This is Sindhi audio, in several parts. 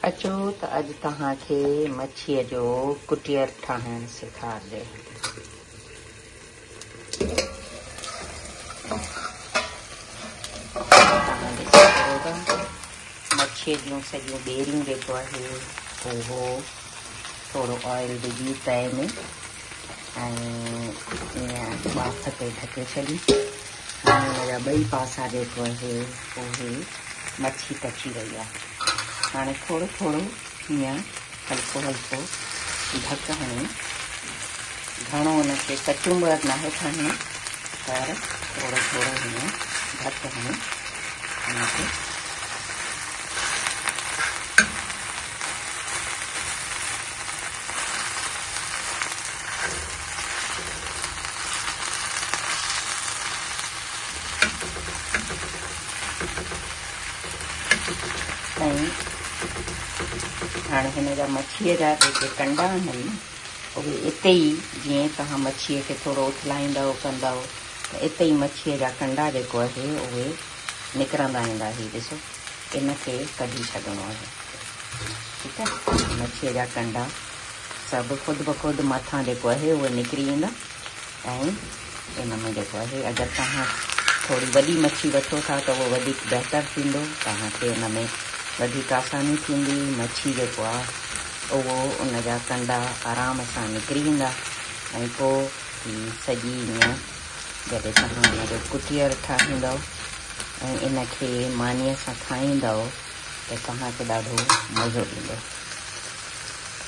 اچو ته اڄ توهان کي مڇيء جو ڪٽير ٺاهڻ سيکار ڏيان. توهان ڏسي سگهو ٿا مڇيء جون سڄيون ٻيريون جيڪو آهي اهو ٿورو آئل وجهي تئي ۾ ۽ ٻاڦ تي ڍڪي ڇڏي پاڻي ان جا ٻئي پاسا جيڪو اهي اهي مڇي پچي وئي آهي هاڻي ٿورو ٿورو هيئن هلڪو هلڪو ڍڪ هڻي گهڻو ان کي ڪچومبر ناهي کڻڻو پر ٿورو ٿورو هيئن ڍڪ هڻي ان کي هاڻي هن جا مڇيء جا جيڪي ڪنڊا آهن اهي اتي ئي جيئن توهان مڇيء کي ٿورو اٿلائيندؤ ڪندؤ ته اتي ئي مڇيء جا ڪنڊا جيڪو آهي اهي نڪرندا ويندا هي ڏسو ان کي ڪڍي ڇڏڻو آهي ٺيڪ آهي مڇي جا ڪنڊا سڀ خود بخود مٿان جيڪو آهي اهي نڪري ويندا ۽ ان ۾ جيڪو آهي اگر توهان ٿوري وڏي مڇي وٺو ٿا ته اهو وڌيڪ بهتر ٿيندو توهان کي ان ۾ وڌيڪ آساني ٿيندي مڇي جيڪو آهي اهو ان جا ڪنڊا آرام سان نڪري ويندا ۽ پوء هي سڄي ائين جڏهن توهان ان جو ڪٽير ٺاهيندؤ ۽ ان کي مانيء سان کائيندؤ ته توهان کي ڏاڍو مزو ايندو.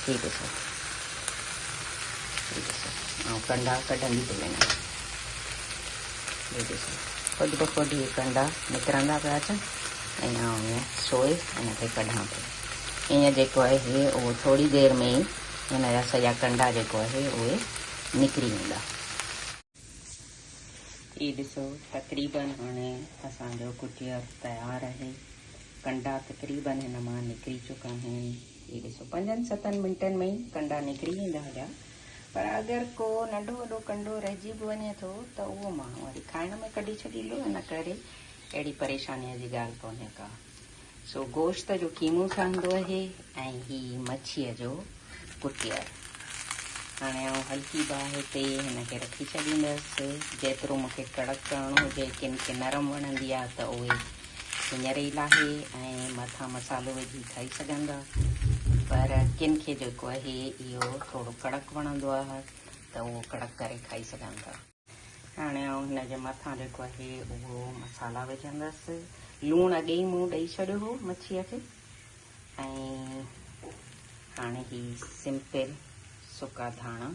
هي ڏسو، هي ڏسو، آئون ڪنڊا ڪڍندي پئي وڃان. هي ڏسو، خود بخود هي ڪنڊا نڪرندا پيا اچن ۽ آئون ائين سوئي ان کي ڪڍان پئي. هينئر جيڪو آهي اهو ٿوري دير ۾ ئي هن جا سڄا ڪنڊا جيڪو آهي اهي نڪري ويندا. هي ڏسو تقريباً هاڻي اسان جو ڪٽير تيار آهي. ڪنڊا تقريباً هن مان نڪري چڪا آهن. هي ڏسو پنجن ستن منٽن ۾ ئي ڪنڊا نڪري ويندا هليا پر اگر ڪو ننڍو وڏو ڪنڊو رهجي به وڃي ٿو ته اهو ماڻهو وري کائڻ ۾ ڪڍي ڇڏيندو ان ڪري اهڙي پريشانيء جي ڳالهه ڪونهي ڪا. سو گوشت جو قيمو ٺهندو اهي ۽ هي مڇيء جو ڪٽيل. هاڻي آئون هلڪي باهه تي هن کي رکي ڇڏيندس. جيترو مون کي ڪڙڪ ڪرڻو هجي، ڪن کي نرم وڻندي آ ته اهي هينئر ئي لاهي ۽ مٿان مسالو وجهي کائي سگهندا. پر ڪن کي جيڪو اهي اهو ٿورو ڪڙڪ وڻندو آ ته اهو ڪڙڪ ڪري کائي سگهندا. هاڻي آئون هن جي مٿان جيڪو آهي اهو مصالا وجهندس. لوڻ اڳي ئي مون ڏئي ڇڏيو هو مڇيء کي ۽ هاڻي هي سمپل سڪا ڌاڻا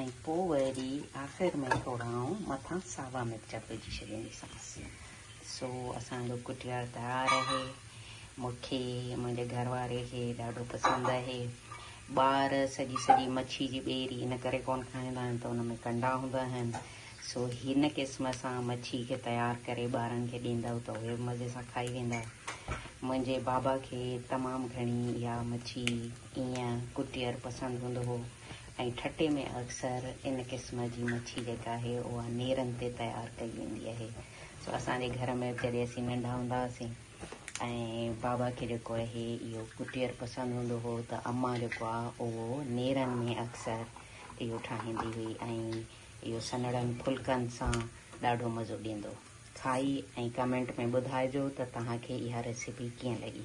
۽ پوء وري آخر ۾ ٿورا آئون مٿان ساوا مرچ وجهي ڇڏينديسانس. سو اسان جو ڪٽيا تيار آهي. مون کي ۽ منهنجي گهر واري کي ڏاڍو پسند آهي. ٻار سڄي سڄي مڇي جي ٻيري ان ڪري ڪونه کائيندا آهن ته ان ۾ ڪنڊا هوندا آهن. سو هن قسم سان مڇي کي تيار ڪري ٻارن کي ڏيندؤ ته اهي به مزي سان کائي ويندا. منهنجي بابا کي تمام گهڻي اها مڇي ايئن ڪٽير پسند هوندو هو ۽ ٺٽي ۾ اڪثر ان قسم جي مڇي جيڪا آهي اها نيرن تي تيار ڪئي ويندي آهي سو اسان جي گهر ۾ جڏهن اسين ننڍا هوندا هئاسين ۽ بابا کي جيڪو آهي اهو ڪٽير پسند هوندو هو ته امان جيڪو آهي اهو نيرن ۾ اڪثر اهو ٺاهيندي هئي ۽ اهو سنهڙن ڦلڪن سان ڏاڍو مزو ڏيندو کائي ۽ ڪمينٽ ۾ ٻڌائجو ته توهان کي اها ريسيپي ڪيئن لڳي.